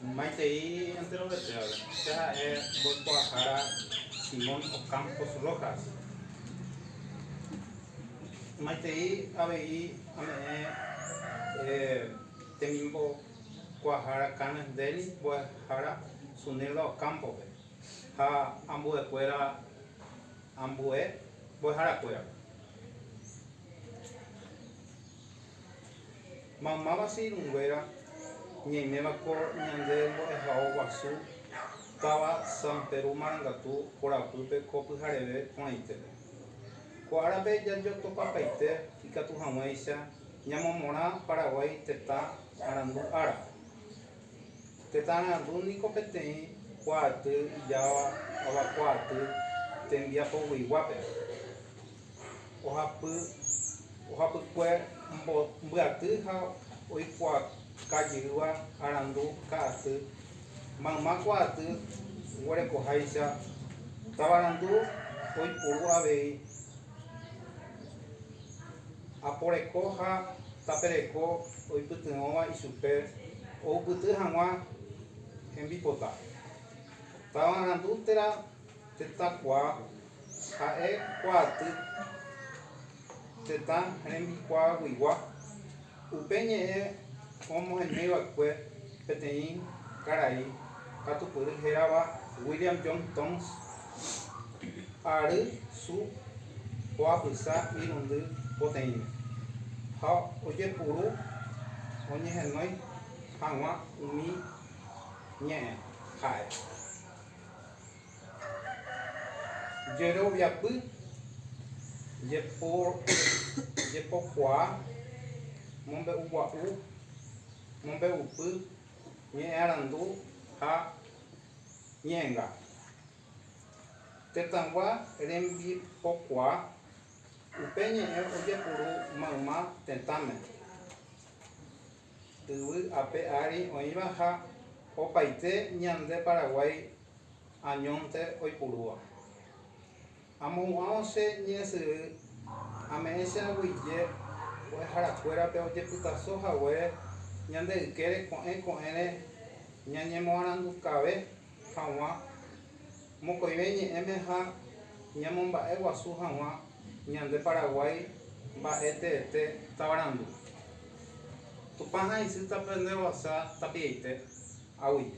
Maitei enterovete va'ekue. Che ha'e mboykuaahára Simón Ocampos Rojas. Maitei avei ame'ẽ temimboykuaahára Cannes Deli mbo'ehára Sunilda Ocampo-pe ha ambuekuéra ambue mbo'eharakuérape. Mamáva che irũnguéra ñaiméva ko ñande mbo'ehao guasu táva San Peru Marangatu korapýpe ko pyhareve porãitére. Ko árape jajotopapaite ikatu haguéicha ñamomorã Paraguái tetã arandu ára. Tetã arandu niko peteĩ kuaaty ijáva avakuaaty tembiapogueiguápe. ohapykue mbyaty ha oikuaakajyýva arandu ka'aty, mayma kuaaty oguerekoháicha, tavarandu oipuru avei, aporeko ha tapereko oipytyvõva ichupe oupyty hag̃ua hembipota. Tavarandu térã tetãkuaa Ha'e kuaaty tetã rembikuaaguigua, upe ñe'ẽ omoheñóiva'ekue peteĩ karai katupyry hérava William John Thoms, ary su ho'apysa irundy poteĩme, ha ojepuru oñehenói hag̃ua umi ñe'ẽ ha'e. Jeroviapy, jepokuaa, mombe'ugua'u, mombe'upy, ñe'ẽarandu ha ñe'ẽnga. Tetãgua rembipokuaa, upe ñe'ẽ ojepuru mayma tetãme. Yvy ape ári oĩva ha opaite ñande Paraguái añónte oipurúva. Amohu'ãvo che ñe'ẽsyry ame'ẽ che aguyje mbo'eharakuérape ojepytaso haguére ñande ykére ko'ẽ ko'ẽre ñañemoarandukave hag̃ua mokõive ñe'ẽme ha ñamomba'e guasu hag̃ua ñande Paraguái mba'e teete tavarandu. Tupã ha'isýta pende roasa tapiaite aguyje.